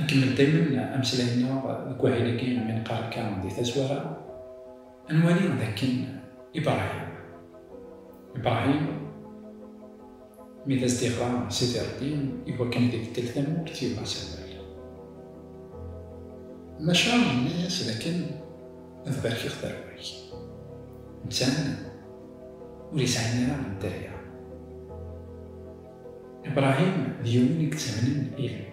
Nkemmel daymen ameslay-nneɣ deg wahil-agi mi neqqar akka di tazwara, ad nwali d akken Ibrahim, Ibrahim, mi d as-d-iɣra Sidi Ṛebbi i wakken ad ibeddel tamurt yuɣ asawal. Maca yenna-yas d akken ad barkeɣ tarwa-k. Netta ur yesɛin ara dderya. Ibrahim d yiwen i yettamnen Ilah,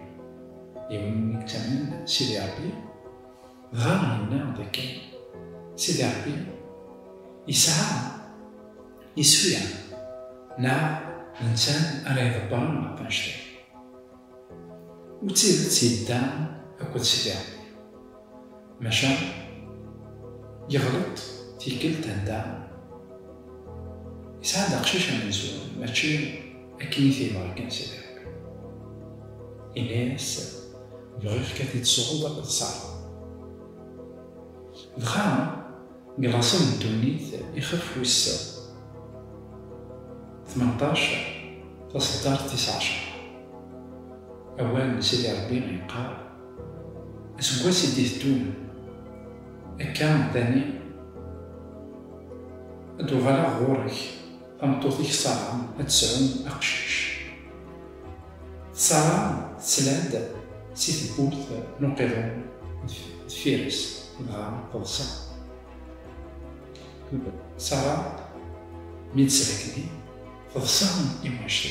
yiwen i yettamnen Sidi Ṛebbi, dɣa yenna dakken Sidi Ṛebbi yesɛa iswi-a neɣ d netta ara iḍebbren ɣef wanect-agi. U d tidet yedda akked Sidi Ṛebbi. Maca yeɣleḍ tikkelt anda yesɛa-d aqcic amenzu, mačči akken i t-yebɣa kan Sidi Rebbi. Yenna-yas, Bɣiɣ-k ad t-id-tesɣeḍ ad t-terreḍ. Dɣa deg laṣel n ddunit ixef wis tmenṭac taṣeddart tis ɛecṛa, awal n Sidi Rebbi yeqqar, Aseggas i d-iteddun akka dani ad d-uɣaleɣ ɣur-k, tameṭṭut-ik Ṣara ad tesɛu aqcic. Ṣara tettlal-d si tewwurt n uqiḍun deffir-s dɣa teḍsa. Ṣara mi d-tesrekdi teḍsa iwacu?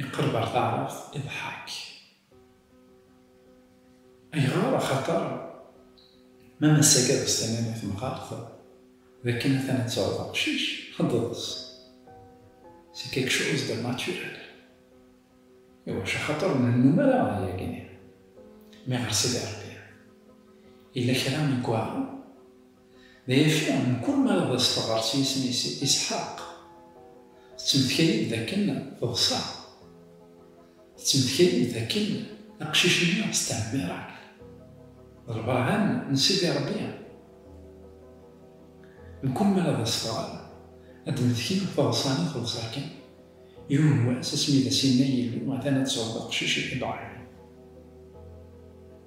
Iqerreb ɣer taɛrabt iḍḥak. Ayɣer? Axaṭer ma ass-agi ad as-tiniḍ i temɣart d akken atan ad tesɛuḍ aqcic, ad d-teḍs. C'est quelque chose de naturel. Iwacu? Axaṭer ur nennum ara ɣer yagi-nni. Mi ɣer Sidi Ṛebbi yella kra i iweɛṛen, Maca, mkul mi ara d as-teɣɣar s yisem-is Isḥaq, tettmetka-yi-d d akken teḍsa. Tettmetka-yi-d d akken aqcic-nni s tɛemmiṛat, d lbeṛhan n Sidi Ṛebbi. Mkul mi ara d as-teɣɣar, ad d-tmetki teḍsa-nni teḍsa kan. Yiwen n wass, asmi i d as-yenna Yillu, Atan ad tesɛuḍ aqcic i Ibrahim.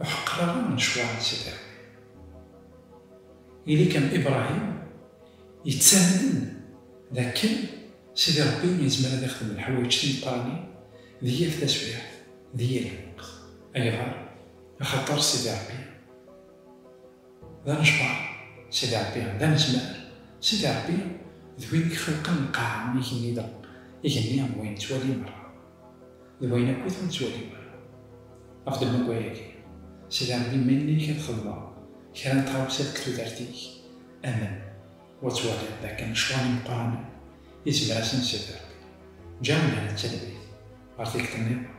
Ur ḥeqqer ara lecɣal n Sidi Rebbi. Ili kan Ibrahim yettamnen d akken Sidi Rebbi yezmer ad ixdem leḥwayeǧ timeqqranin di yal taswiɛt, di yal lweqt. Ayɣer? Axaṭer Sidi Rebbi d anejbar, Sidi Rebbi d anezmar, Sidi Rebbi d win i ixelqen lqaɛa, igenni d igenni am wayen nettwali merra. D wayen akk i ten-ttwaliɣ. Ɣef ddemma-agi, sderɣel iman-ik ad xedmeḍ kra n tɣawsa deg tudert-ik, amen wa twaliḍ d akken ccɣel imeqqranen izmer ad sen-sderɣel Ǧahennam d talwit ɣer tikkelt nniḍen.